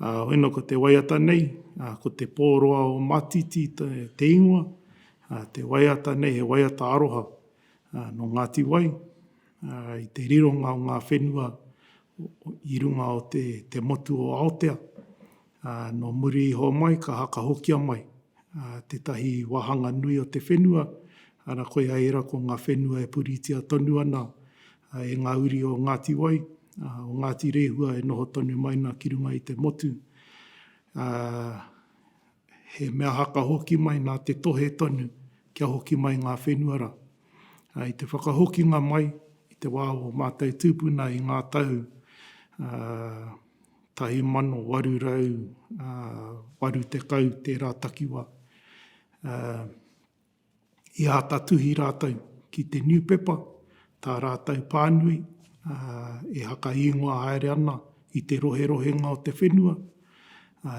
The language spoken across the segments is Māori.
Ā, ina ko te waiata nei, ā, ko te pōroa o Matiti te, te ingoa, ā, te waiata nei he waiata aroha, ā, nō Ngāti Wai, ā, i te rironga o ngā whenua i runga o te, te motu o Aotea, ā, nō muri iho mai ka hakahokia mai, ā, tētahi wāhanga nui o te whenua, arā koia ērā ko ngā whenua e puritia tonu ana e ngā uri o Ngāti Wai, o Ngāti Rehua e noho tonu mai ana ki runga i te motu, ā, he mea haka hoki mai nā te tohe tonu kia hoki mai ngā whenua rā. Ā, i te whakahokinga mai i te wā o mātou tūpuna i ngā tau, ā, 1880 tērā takiwā, ā, I āta tuhi rātou ki te niupepa, tā rātou pānui e whakaīngoa haere ana i te roherohenga o te whenua.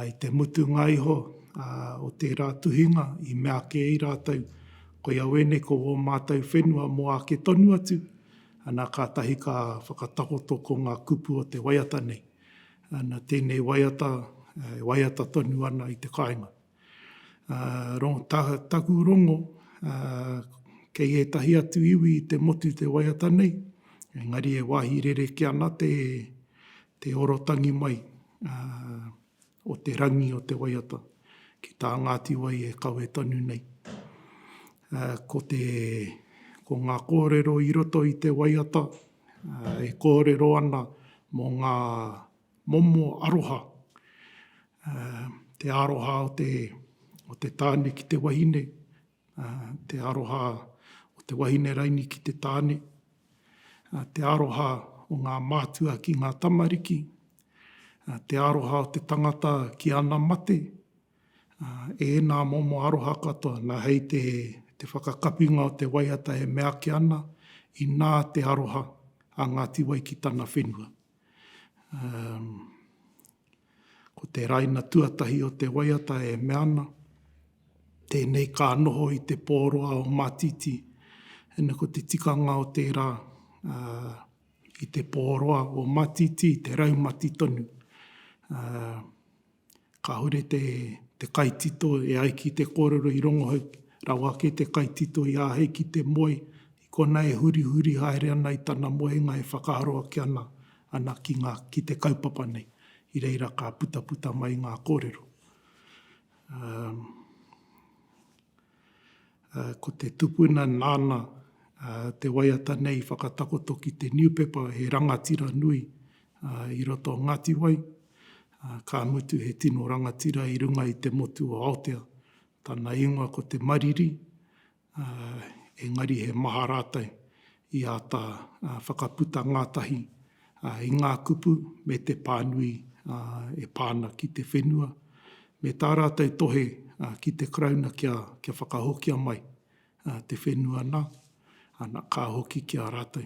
I te mutunga iho o tērā tuhinga i mea kē ai rātou, koia wēnei ko wō mātou whenua mō āke tonu atu, ana kātahi ka whakatakoto ko ngā kupu o te waiata nei, ana tēnei waiata e waiata tonu ana i te kāinga. Taku rongo, kei ētahi atu iwi i te motu te waiata nei, engari e wāhi rerekē ana te orotangi mai o te rangi o te waiata ki tā Ngāti Wai e kawe tonu nei. Ko te, ko ngā kōrero i roto i te waiata e kōrero ana mō ngā. Momo aroha, te aroha o te, o te tāne ki te wahine, te aroha o te wahine raini ki te tāne, te aroha o ngā mātua ki ngā tamariki, te aroha o te tangata ki ana mate, ēnā momo aroha katoa. Nā hei te, te whakakapinga o te waiata e meake ana, inā te aroha a Ngāti Wai ki tana whenua. Ko te raina tuatahi o te waiata e mea ana, tēnei ka noho i te pōroa o Mātiti, ina ko te tikanga o tērā, i te pōroa o Mātiti, te raumati tonu. Kāore te kaitito e ai ki te kōrero i rongohau rawa ake te kaitito i āhei ki te moe i konā e hurihuri haere ana i tana moenga e whakaaro ake ana ana ki ngā ki te kaupapa nei. I reira ka putaputa mai ngā kōrero. Um. Ko te tupuna nāna te waiata nei i whakatakoto ki te niupepa he rangatira nui i roto o Ngāti Wai, ka mutu he tino rangatira i runga i te motu o Aotea. Tana ingoa ko Te Mariri, engari he maha rātou i āta whakaputa ngātahi. i ngā kupu me te pānui e pā ana ki te whenua, me tā rātou tohe ki te Karauna kia whakahokia mai te whenua nā, ana, ka hoki ki a rātou.